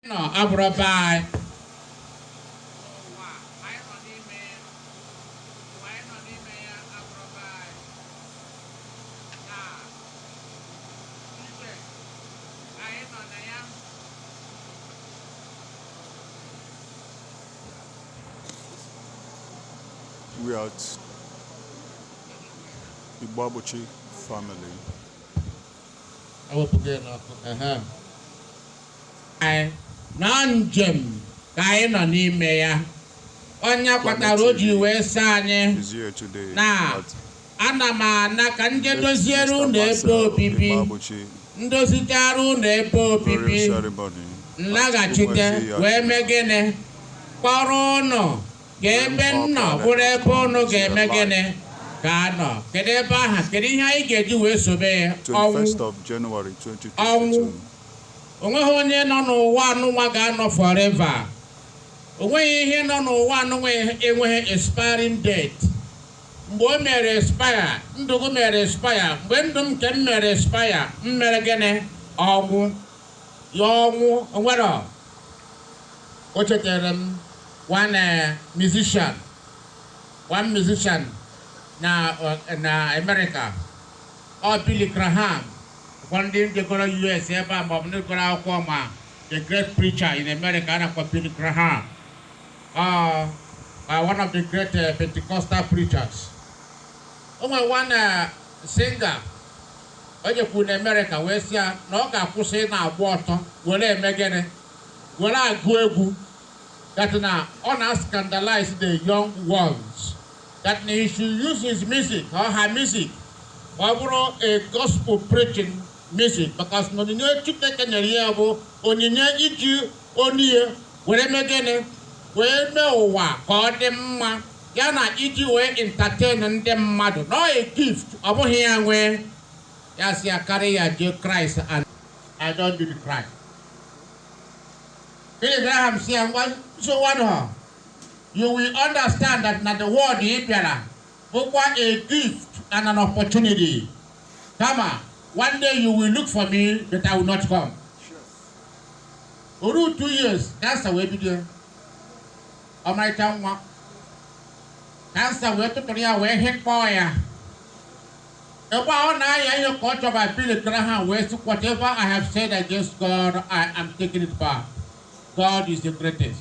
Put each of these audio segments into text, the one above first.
nọ abụrọ be anyị we are at Igboabuchi family. ewepụga ya n'ọkụ ehe anyị na ọ njem ka anyị nọ n'ime ya ọ nya kpatara o ji wee sị anyị na ana m ana ka m je doziere ụnụ ebe obibi m dozichaara ụnụ ebe obibi m laghachite wee mee gịnị kpọrọ ụnụ ka ebe m nọ bụrụ ebe ụnụ ga-eme gịnị ga-anọ kedu ebe aha kedu ihe anyị ga-eji wee sobe ya ọnwụ ọnwụ onweghị onye nọ n'ụwa anụnwa ga-anọ forever onweghị ihe nọ n'ụwa anụnwa enweghị expiring date mgbe o mere expire ndụ gị mere expire mgbe ndụ m nke m mere expire m mere gịnị ọnwụ ya ọnwụ onwere o chetara m one eh, musician one musician na eh, na America Ọ Billy Graham ụfọdụ ndị jegoro US ebe a maọbụ ndị gụrụ akwụkwọ ma the great preacher in America a na-akpọ Billy Graham ọ uh, one of the great uh, Pentecostal preachers o nwere one uh, singer o jekwuru na America wee sị ya na ọ ga-akwụsị ị na-agba ọtọ were eme gịnị were agụ egwu that na ọ na-scandalize the young ones that he should use his music or her music ọ bụrụ a gospel preaching music because na onyinye Chineke nyere ya bụ onyinye iji onyinye were mee gịnị wee mee ụwa ka ọ dị mma ya na iji wee entertain ndị mmadụ na ọ a gift ọ bụghị ya nwe ya sị ya carry your Jesus Christ and I don't do the Christ. Billy Graham sị ya ngwa nsogbu anụ you will understand that na the world ị bịara bụkwa a gift and an opportunity kama one day you will look for me but I will not come o ruo two years cancer wee bido ọmarịcha nwa cancer wee tụtụrụ ya wee hịkpọọ ya ebe ọ na-aya ihe ka ọ chọba Billy Graham wee sị whatever I have said against God I am taking it back God is the greatest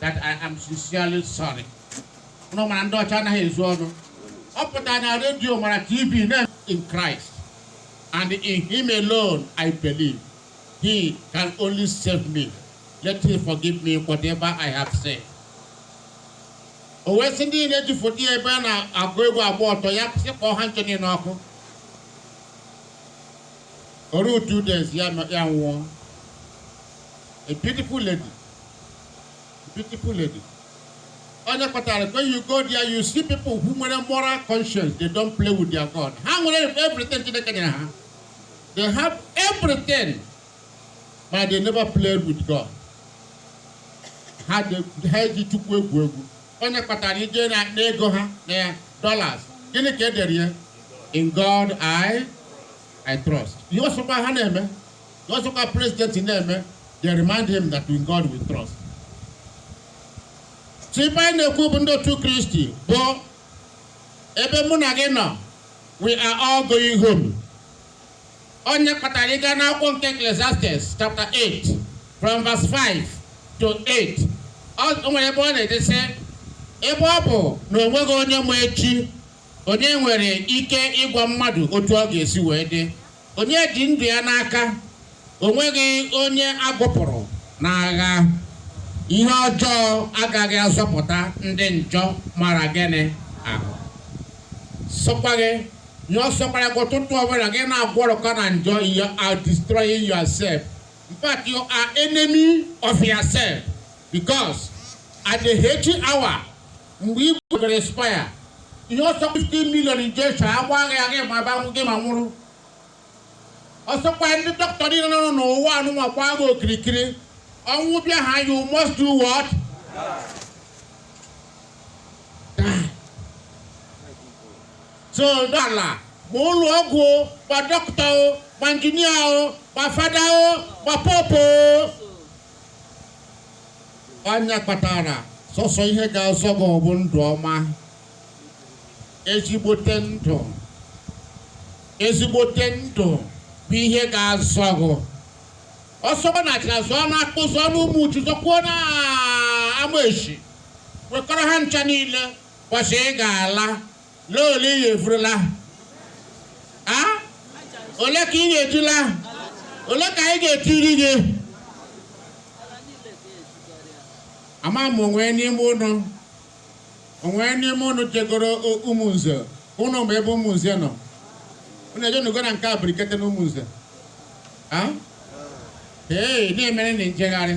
that I am sincerely sorry. Ụnụ mara ndị ọcha anaghị ezo ọnụ. Ọ pụtara na redio ma na TV na in Christ and in him alone I believe. He can only save me. Let him forgive me whatever I have said. O wee sị ndị niile ji foto ya ebe a na-agụ egwu agba ọtọ ya sị kpọọ ha ncha niile ọkụ. O ruo two days ya anwụọ. A beautiful lady. Beautiful lady. Ọ nya kpatara when you go there you see people who nwere moral conscience they don't play with their God. Ha nwere everything Chineke nyere ha. They have everything but they never play with God. Ha eji Chukwu egwu egwu. Ọ nya kpatara i jee na ego ha na ya dollars. Gịnị ka e dere ya? In God I I trust. Ihe ọ sọkwa ha na-eme. ọ sọkwa president na-eme they remind him that in God we trust so ife anyị na-ekwu bụ ndị otu kristi bụ ebe mụ na gị nọ we are all going home ọ nya kpatara ị gaa n'akwụkwọ nke Ecclesiastes chapter 8 from verse 5 to 8 o nwere ebe ọ na-ede sị ebe ọ bụ na o nweghị onye ma echi onye nwere ike ịgwa mmadụ otu ọ ga-esi wee dị Onye ji ndụ ya n'aka, o nweghị onye a gụpụrụ n'agha. Ihe ọjọọ agaghị azọpụta ndị njọ mara gịnị ahụ. Sọkwa gị na ọ sọkwara gị ụtụtụ ọbụla gị na-agwọrọkọ na njọ you are destroying yourself. In fact, you are enemy of yourself because at the fateful hour mgbe i gwebere expire ihe ọ sọ 15 million injection a gbaa gị ya gị ma banwụ gị ma nwụrụ ọ sọkwa ndị dọkịta niile nọ n'ụwa anụnwakwa gị okirikiri ọnwụ bịa ha you must do what so dọla ma ụlọ ọgwụ ma dọkịta o ma injinia o ma fada o ma poopu o ọ nya kpatara sọsọ ihe ga-azọ gị ọ bụ ndụ ọma ezigbote ndụ ezigbote ndụ bụ ihe ga-azọ gị ọ sọ gị baa na Achịna zụọ na Akpo zụọ na Umuchu zụkwuo na Amesi wekọrọ ha ncha niile kwasị ị ga-ala n'ole ị ga-efurula a ole ka ị ga-ejula ole ka anyị ga-etiri gị ama m o nwe n'ime ụnụ o nwe n'ime ụnụ jegoro Ụmụnze ụnụ ma ebe Ụmụnze nọ ụnụ ejenugo na nke Abirikete na Ụmụnze ee na-emere na njegharị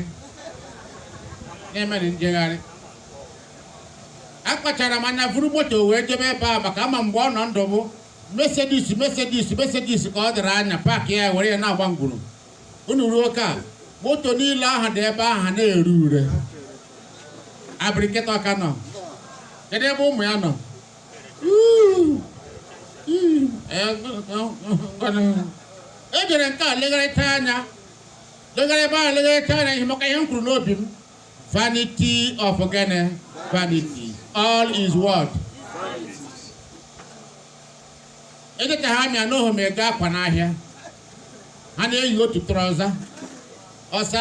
na-emere njegharị akpachara m anya vuru moto wee jebe ebe a maka ama mgbe ọ nọ ndụ bụ Mercedes Mercedes Mercedes ka ọ dịrị anya paakị ya were ya na-agba ngwuru unu ruo ka moto niile ahụ dị ebe ahụ na-ere ure Abirikete ọ ka nọ kedu ebe ụmụ ya nọ e jere nke a legharịcha anya legharị ebe ahụ legharịcha anya ị makwa ihe m kwuru n'obi m Vanity of gịnị? Vanity. All is what? Echetaha m ya n'ohu ma ego akwa n'ahịa. Ha na-eyi otu trọza. Ọsa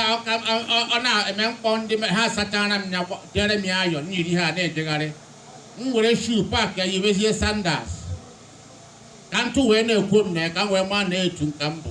ọ na-eme m kpọọ ndị ha sachara m ya dere m ya iron m yiri ha na-ejegharị. M were shoe park ya yiwezie sandals. Ka ntụ wee na-ekwo m na ya ka m wee maa na ntụ ka m bụ.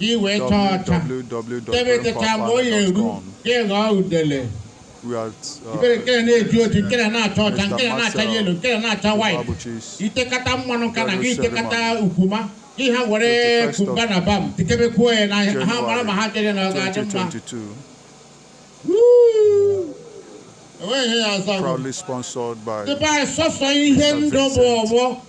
ị wee chaa ọcha ebe techa mgbe o ya eru ka ị ghọọ udele ibere nke na na-eji oji nke na na-acha ọcha nke na na-acha yellow nke na na-acha white i tekata mmanụ ka na gị i tekata okwuma gị ha were kumba na balm tikebekwuo ya n'ahụ ha mara ma ha chere na ọ ga-adị mma enweghị ihe ya ọzọ proudly sponsored by Dubai sọsọ ihe ndụ bụ ọgbọ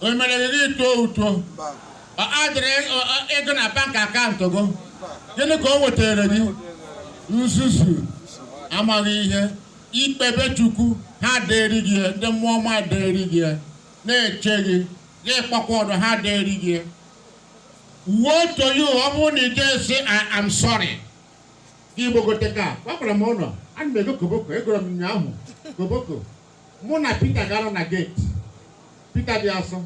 o mere gị gị too uto ọ adịrị ego na bank account gị gịnị ka o wetara gị nzuzu amaghị ihe ikpe be Chukwu ha dịrị gị ndị mmụọ ọma dịrị gị na-eche gị gị kpakwa ọdụ ha dịrị gị woe to you ọ bụrụ na ije si I am sorry igbogote ka gwakwara m ụlọ ana m ego koboko egoro m ụnyaahụ koboko mụ na Peter ga-anọ na gate Peter dị asọ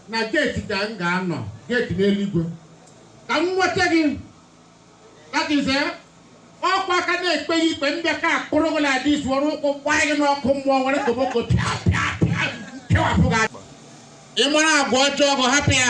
na gate ka m ga-anọ gate n'eluigwe ka m nweta gị that is ọ kwa a ka na-ekpe gị ikpe m bịa ka akpụrụ gị like this were ụkwụ gbaa gị n'ọkụ mmụọ were koboko pịa pịa pịa kewapụ gị ị mara agwa ọjọọ gụ hapụ ya